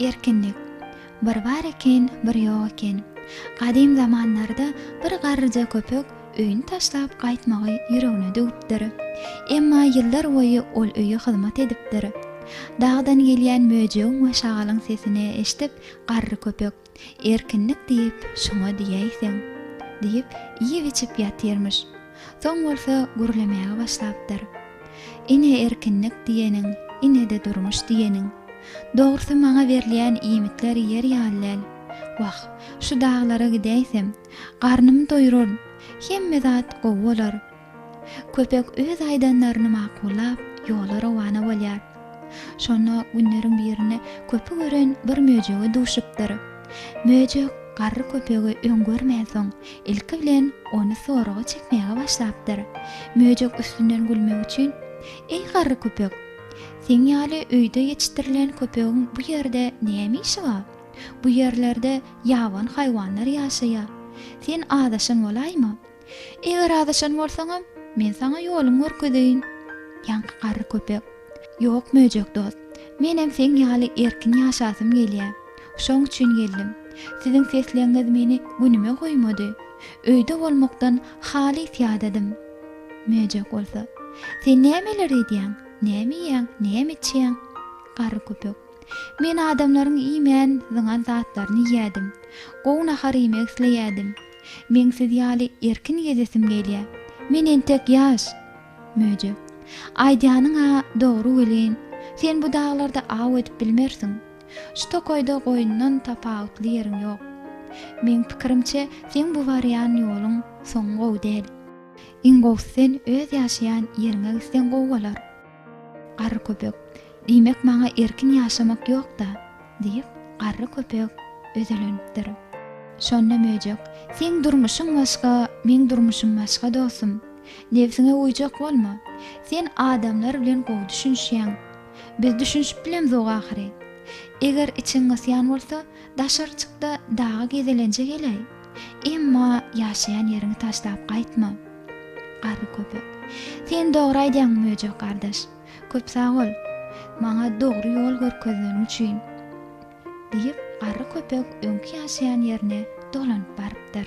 Erkinlik. Bir bar eken, bir ýok eken. Gadym zamanlarda bir garryja köpek öýüni taşlap gaýtmagy ýüregine düwüpdir. Emma ýyllar boýy ol öýe hyzmat edipdir. Dagdan gelýän möjegiň we şagalyň sesini eşidip, garry köpek. Erkinlik diýip şoňa diýäýseň! diýip, iýip-içip ýatyrmyş. Soň bolsa gürlemäge başlapdyr. Ine erkinlik diýeniň, ine-de durmuş diýeniň. Dogrusy maňa berilýän iýmitler ýer ýaly däl. Wah, şu daglara gidäýsem, garnymy doýuraryn, hemme zat gowy bolar. Köpek öz aýdanlaryny makullap, ýola rowana bolýar. Şonda günleriň birinde köpi gören bir möjege duşupdyr. Möjek garry köpegi öň görmänsoň, ilki bilen ony soraga çekmäge başlapdyr. Möjek üstünden gülmek üçin, Eý garry köpek! Seň ýaly öýde ýetişdirilen köpegiň bu ýerde näme işi bar? Bu ýerlerde ýabany haýwanlar ýaşaýar. Sen azaşan bolaýma! Eger azaşan bolsaňam, men saňa ýoluňy görkezeýin. Ýaňky garry köpek. Ýok, möjek dost. Menem seň ýaly erkin ýaşasym gelýär. Şoň üçin geldim. Siziň sesleňňiz meni günüme goýmady. Öýde bolmakdan halys ýadadym. Möjek bolsa. Sen nämeler edýäň? Näme iýýäň? Näme içýäň? Garry köpek. Men adamlaryň iýmän, zyňan zatlaryny iýýädim. Gowy nahar iýmek isleýädim. Meň siz ýaly erkin gezesim gelýä. Men entek ýaş. Möjek. Aýdýanyň-a dogry welin, sen bu daglarda aw edip bilmersiň. Şu tokaýda goýundan tapawutly ýeriň ýok. Meň pikirimçe, seň bu barýan ýoluň soňy gowy däl. Iň gowusy sen öz ýaşaýan ýeriňe gitseň gowy bolar. Garry köpek, Diýmek maňa erkin ýaşamak ýok-da? diýip, garry köpek özelenipdir. Şonda möjek, Seň durmuşyň başga, meň durmuşym başga dostum. Nebsiňe uýjak bolma. Sen adamlar bilen gowy düşünişýäň. Biz düşünişip bilemzok ahyry. Eger içiň gysýan bolsa, daşary çyk-da daga gezelenje geläý. Emma ýaşaýan ýeriňi taşlap gaýtma. Garry köpek. Sen dogry aýdýaň Möjek gardaş. Köp sag bol, maňa dogry ýol görkezeniň üçin. Diýip, garry köpek öňki ýaşaýan ýerine dolanyp barypdyr.